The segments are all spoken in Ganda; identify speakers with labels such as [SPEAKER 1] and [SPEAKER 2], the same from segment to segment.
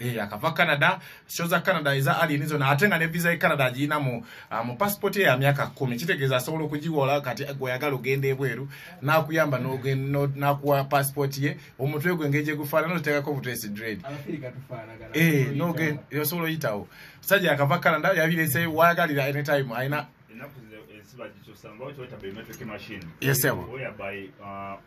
[SPEAKER 1] Eh, akava canada sho za canada eza alien zona ate nga ne visa ye canada agiyina mu uh, mu passport ye ya myaka kumi kitegeeza asobola okugiwola kati gweyagala ogenda ebweru nakuyamba nakuwa passport ye omutwe gwe engeri gyegufaanana otekako butesi dread
[SPEAKER 2] eh,
[SPEAKER 1] osobola oyitawo sajja akava canada yabirese wayagalira anytime alina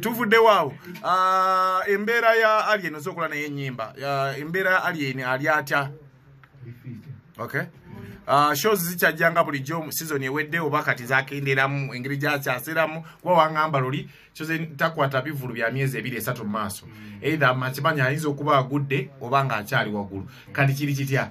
[SPEAKER 1] tuvuddewo awo ah, embeera ya alien oza okola naye enyimba ah, embeera ya alien ali atya okay Uh, shows zikyajjanga bulijjo mu sizoni ewedde oba kati zakenderamu engeri gyakyasiramu kuba wangamba luli takwata bivulu bya myezi ebiri esatu mu maaso mm. either makimanyi ayinza okuba agudde oba ng'akyali waggulu kati kiri kitya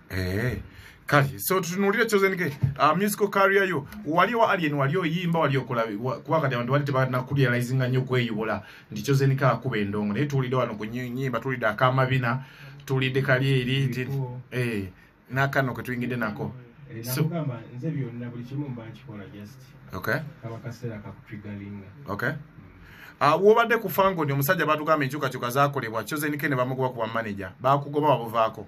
[SPEAKER 2] eh kati
[SPEAKER 1] so tutunulire chosen ke uh, musical career yo wali wa alien wali oyimba wali okola kuba kati abantu wali tebana ku realizing nyo kweyubola ndi chosen ka kuba endongo ne tulide wano ku nyimba tulide akama bina tulide kali eri eh nakano ke tuingide nako mm -hmm. Eh, so, nze
[SPEAKER 2] byonna buli kimu mba nkikola just okay. kaba
[SPEAKER 1] kaseera
[SPEAKER 2] kakutrigalinga okay.
[SPEAKER 1] mm. uh, wobadde ku fangoni omusajja batugamba enkyukakyuka zakolebwa kyozenike ne bamugoba kuba manaja bakugoba wabuvaako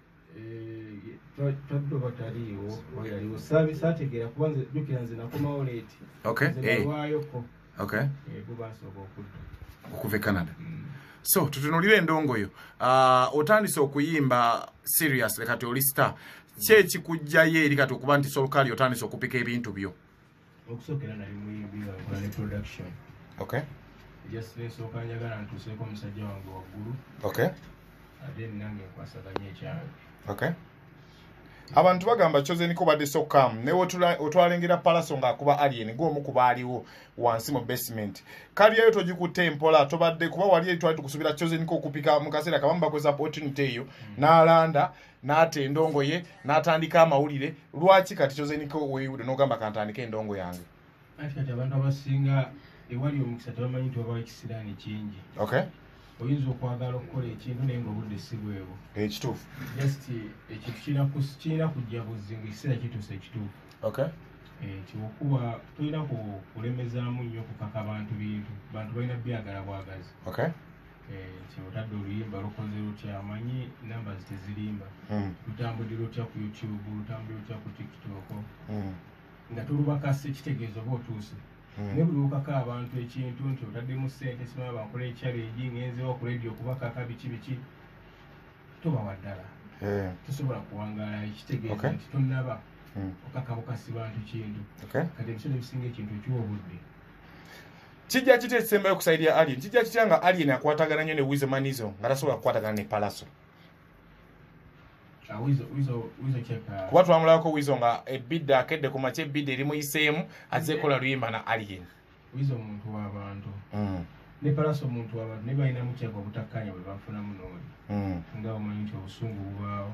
[SPEAKER 2] taddo bataliiwo wayaliwo saabisa ategeera kuba nze jukira nze nakomawo leeti
[SPEAKER 1] nzebalwayoko gubasooka
[SPEAKER 2] okudda okuva e canada
[SPEAKER 1] mm. so tutunulire endongoyo ah, otandise okuyimba serious kati oli star kyekikujjayo eri kati okuba nti solkali otandise okupika ebintu byo okusokera
[SPEAKER 2] nali muyimbi nga nkola ne production okay
[SPEAKER 1] just
[SPEAKER 2] nsooka njagala ntuuseeko omusajja wange waggulu okay
[SPEAKER 1] ate
[SPEAKER 2] nange nkwasaganya ekyange
[SPEAKER 1] okay abantu bagamba kyozeniko badde sokamu naye otwalengera palaso ng'akuba alien gwomu kuba aliwo wansi mu basement kaliyayo togikutte empola tobadde kuba wali eri twali tukusubira kyozeniko okupika mu kaseera kabamu bakozesa opportunity eyo n'alanda n'ata endongo ye n'atandika amawulire lwaki kati kyozeniko weyiwude n'ogamba kantandika endongo yange anti kati abantu
[SPEAKER 2] abasinga ewali omukisa tebamanyi nti wabawo ekisiraani kingi okay
[SPEAKER 1] oyinza okwagala
[SPEAKER 2] okukola ekintu naye ngaobudde si bwebwo ekituufu
[SPEAKER 1] just
[SPEAKER 2] ekintu kirina kujja buzzi nga ekiseera kituusa ekituufu okay
[SPEAKER 1] eh, nti okuba
[SPEAKER 2] tolina kulemezaamu nnyo okukaka bantu bintu bantu balina byagala bwagazi okay
[SPEAKER 1] Eh, kyotadde
[SPEAKER 2] oluyimba lukoze lutya amanyi namba zitezirimba hmm. lutambudira otya ku youtube lutambudira otya ku tiktok hmm. nga tulubakasa ekitegeezo oba otuuse hmm. naye buli wokaka abantu ekintu nti otaddemu sente simaba bankola ekyalo egi ngenzewo ku radio kubakaka biki biki tobawa ddala eh. tosobola kuwangala ekitegeezo nti tonaba okakabukasi bantu kintu kati ebiseera ebisinga ekintu ekiwa obudde
[SPEAKER 1] kijja kitya ekisembayo ku saidi ya alien kijja kitya nga alien akwatagana nnyo ne wisemanizo nga tasobola kukwatagana ne palaso ah,
[SPEAKER 2] uh, kuba twamulabako wizo nga
[SPEAKER 1] ebidde akedde ku maky ebidde eri muyiseemu azze kola luyimba na alien wizo omuntu
[SPEAKER 2] wabantu hmm. ne palaso omuntu wabantu naye balinamu kyaka obutakkanya bwe bafunamu nooli hmm. nga omanyi nti obusungu bubaawo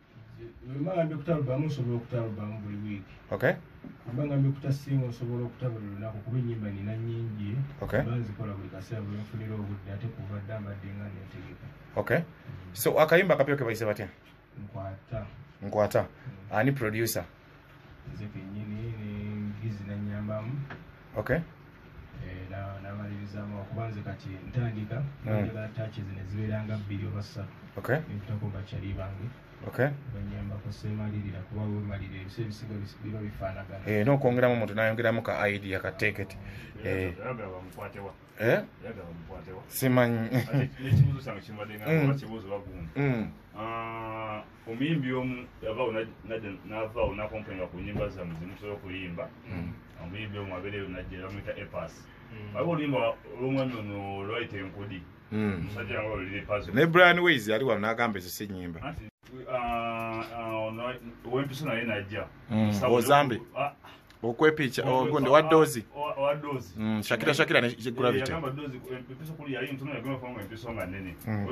[SPEAKER 2] mbanga mbikuta alubamu nsobola okuta alubamu buli wiiki okay
[SPEAKER 1] mbanga mbikuta
[SPEAKER 2] singa osobola okuta buli lunaku kuba enyimba nina nyingi okay banzikola
[SPEAKER 1] buli kaseera
[SPEAKER 2] bwe nfunira obudde ate kuva dda mbadde nga netegeka okay
[SPEAKER 1] so akayimba akapya kebayise batya nkwata nkwata mm. ani producer nze
[SPEAKER 2] kenyini nengizi nanyambamu okay
[SPEAKER 1] eh, namalirizamu
[SPEAKER 2] okuba nze kati ntandika njagala hmm. tachi zino zibeeranga bbiri oba ssatu nebitako
[SPEAKER 1] bakyali
[SPEAKER 2] bange
[SPEAKER 1] banyambako
[SPEAKER 2] semalirira kuba wemalira ebisa ebisiga biba bifaanagana eh, nokwongeramu omuntu nayongeramu
[SPEAKER 1] ka idea ka teketi eh. simanyi
[SPEAKER 3] omuyimbi omu yavaawo najja n'avaawo nakompenga ku nyimba zamu zimusobola okuyimba hmm. omuyimbi omu abeereyo najja era muyita epas hmm. waliwo oluyimba olwomwami ono lwayita enkudi hmm. musajja yange olulira epas ne brian ways yali wano
[SPEAKER 1] n'agamba ezo si nyimba uh, uh, ono
[SPEAKER 3] wempiso naye najja ozambi
[SPEAKER 1] ah, okwepiica oh, gundi wa doozi mm, shakira shakira ne eh,
[SPEAKER 3] gravity eh, mm.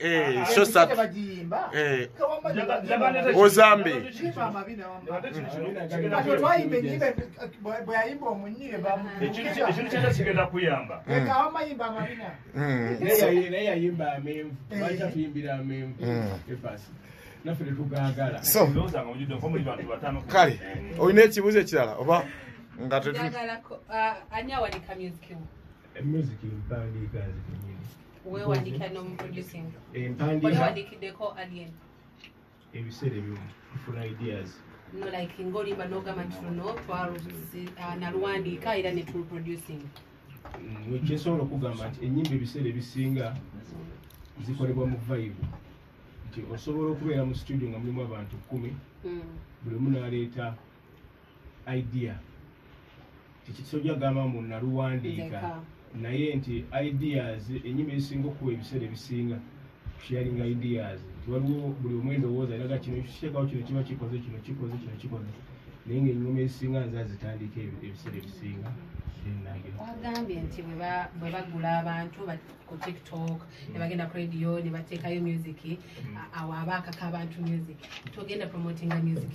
[SPEAKER 1] Eh, so sad. Eh. Ozambe. kale olina ekibuuzo ekirala oba nga
[SPEAKER 4] music
[SPEAKER 2] mpandiika nze kenyini wewandika
[SPEAKER 4] nomuproducing empandiikawandikiddeko
[SPEAKER 2] alien
[SPEAKER 4] ebiseera
[SPEAKER 2] ebimu funa ideas no like
[SPEAKER 4] ngolimba nogamba nti luno ah, naluwandiika era netuluproducing mm,
[SPEAKER 2] kyensobola okugamba nti enyimba ebiseera ebisinga zikolebwa mu vibe nti osobola okubeera mu studio nga mulimu abantu kumi hmm. buli munaleeta idea kiki kisoja gamba mbu naluwandiika naye nti ideas enyima ezisinga okuwa ebiseera ebisinga sharing ideas nti waliwo buli omu endowooza eraga kino kiteekawo kino kiba kikoze kino kikoze kino kikoze naye nga enyuma ezisinga nze azitandika ebiseera ebisinga
[SPEAKER 4] wagambye nti bwe bagula abantu ku tiktok ne bagenda ku radio ne bateekayo music mm. awo aba akaka abantu music togenda promotinga music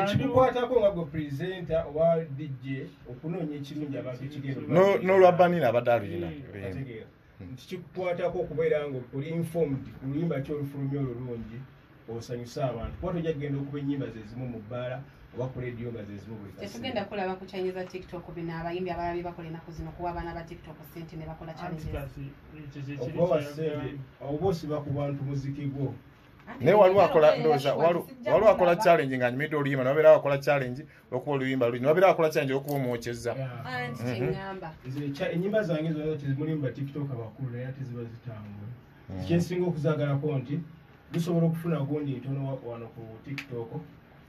[SPEAKER 2] ekikukwatako nga gwe presenta oba dj okunoonya ekirungi abantu ekigendnolwa banina abadde
[SPEAKER 1] aluyina hmm. nti
[SPEAKER 2] kikukwatako okubeera nga oli informed ku luyimba ki olufulumya olulungi osanyuse abantu kuba tojja kugenda okuba ennyimba zezimu mu bbaala oba ku leediyo nga zezimu buli tetugenda kulaba ku change
[SPEAKER 4] za tiktok bino abayimbi abalala bye bakola enaku zino kuwa abaana ba tiktok sente ne bakola change okubawa
[SPEAKER 2] sente oba osiba ku bantu muziki gwo naye waliwo
[SPEAKER 1] akola ndowooza waliwo akola challenge nga nyumidde oluyimba nababeera akola challenge olwokuba oluyimba luli nababeera akola challenge olwokuba omwokyezza
[SPEAKER 4] enyimba zange
[SPEAKER 2] zona tezimulimu batiktok abakulu naye ate ziba zitambula mhm. kyensinga okuzagalako nti gusobola okufuna gundi ntono wano ku tiktok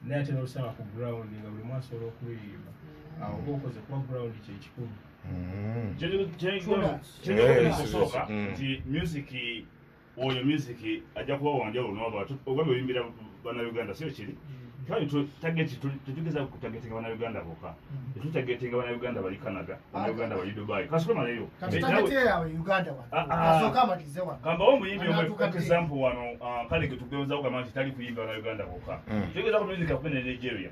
[SPEAKER 2] naye ate nolusaba ku ground nga buli mu asobola okuluyimba mhm. awo oba okoze kuba ground kyekikulu
[SPEAKER 3] mhm.
[SPEAKER 2] kyoyinza
[SPEAKER 3] okusooka nti music oyo music ajja kuba wanjawulo noba ogamba oyimbira banauganda sio kiri kale tageti tetugeza kutagetinga banauganda boka tetutagetinga banauganda bali canada banauganda bali dubai kasukamaleyo kambawo omuyimbi omweexample wano kale getugeozawo gamba nti tali kuyimba banauganda boka tugeza ku music akube ne nigeria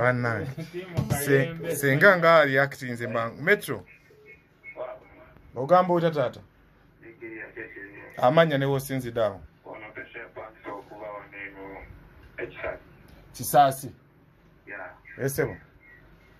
[SPEAKER 1] banange senga nga aliakitinze mangu metro ogamba otya taata amanya newosinzideawo
[SPEAKER 5] kisaasi esebo yeah.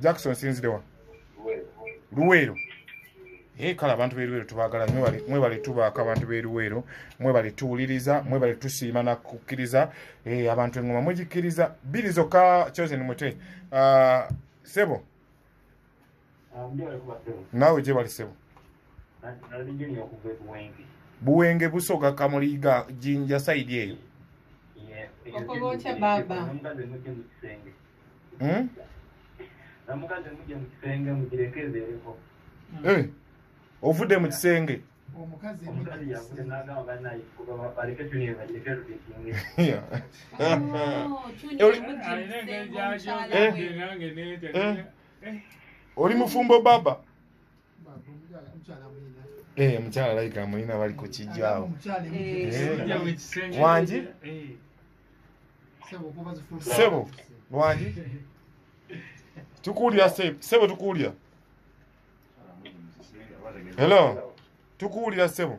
[SPEAKER 1] jackson sinzirewa luweero naye kale abantu beruweero tubagala mwebale tubaako abantu beruweero mwebale tuwuliriza mwebale tusiima nakukkiriza eh, abantu engoma mugikkiriza biri zokka chosen mute ah, sebo naawe gyebali sebo buwenge busoga kamuliga jinja saidi eyo
[SPEAKER 4] hmm?
[SPEAKER 5] eh,
[SPEAKER 1] ovudde mu kisenge
[SPEAKER 5] omukazi
[SPEAKER 1] oli mufumbo baba eh, mukyala layika mulina bali ku kijjaawo wangi sebo wangi tukuwulira sebo tukuwulira helo tukuwulira sebo